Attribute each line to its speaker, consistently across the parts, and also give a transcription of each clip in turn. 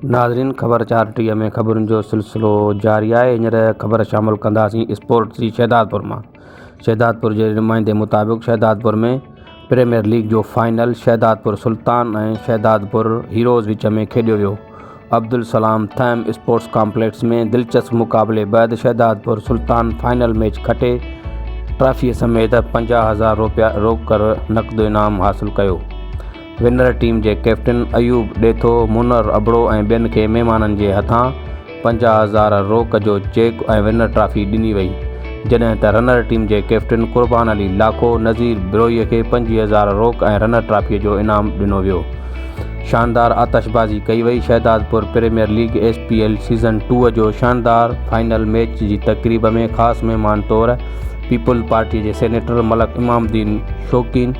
Speaker 1: ناظرين خبر چار ٽيهه ۾ خبرن جو سلسلو جاري آهي هينئر خبر شامل ڪنداسين اسپورٽس جي شهدادپور مان شهدادپور جي نمائندي مطابق شهدادپور ۾ پريميئر ليگ جو فائنل شهدادپور سلطان ۽ شهدادپور هيروز وچ ۾ کيڏيو ويو. عبدالسلام ٿهيم اسپورٽس ڪامپليڪس ۾ دلچسپ مقابلي بعد شهدادپور سلطان فائنل ميچ کٽي ٽرافيء سميت پنجاهه هزار روپيا روڪڙ نقد انعام حاصل ڪيو. ونر ٽيم جي ڪئپٽن ايوب ڏيٿو، منئر ابڙو ۽ ٻين کي مهمانن جي هٿان پنجاهه هزار روڪ جو چيڪ ۽ ونر ٽرافي ڏني وئي، جڏهن ته رنر ٽيم جي ڪيپٽن قربان علي لاکو نذير بروهي کي پنجويهه هزار روڪ ۽ رنر ٽرافي جو انعام ڏنو ويو. شاندار آتشبازي ڪئي وئي، Shahdadpur premier league S P L season two جو شاندار فائنل ميچ جي تقريب ۾ خاص مهمان طور پيپلز پارٽي جي سينيٽر ملڪ امام الدين شوقين،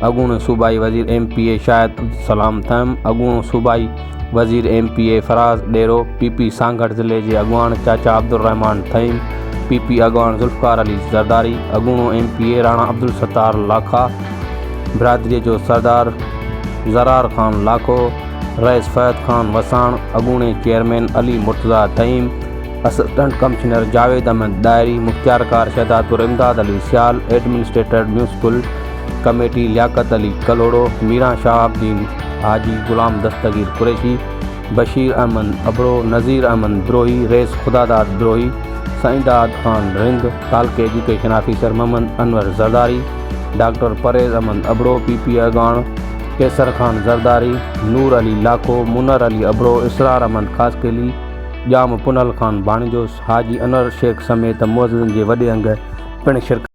Speaker 1: اڳوڻو صوبائي وزير M P A Shahid Abdussalam Thaheem, اڳوڻو صوبائي. وزير M P A Faraz Dero, P P Sanghar ضلعي جي اڳواڻ چاچا عبدالرحمان ٿهيم، پي پي اڳواڻ ذوالفقار علي زرداري، اڳوڻو M P A Rana Abdussattar Lakha, برادري جو سردار زرار خان لاکو، رئيس فهد خان وساڻ، اڳوڻي chairman Ali Murtaza Thaheem, assistant commissioner Javed Ahmed Dahri, مختيارڪار Shahdadpur Imdad Ali Sial, administrator municipal, committee Liaquat Ali Kalhoro, Miran Shahabuddin, Haji Ghulam Dastagir Qureshi, Bashir Ahmed Abro, Nazir Ahmed Brohi, رئيس خداداد بروهي، سائين داد خان رند، تعلقي education officer Muhammad Anwar Zardari, doctor Pervez Ahmed Abro, P P اڳواڻ قيصر خان زرداري، نور علي لاکو، منئر علي ابڙو، اسرار احمد خاصخيلي، ڄام پنهل خان ڀاڻيجوس، حاجي انور شيخ سميت معززن جي وڏي انگ پڻ شرڪت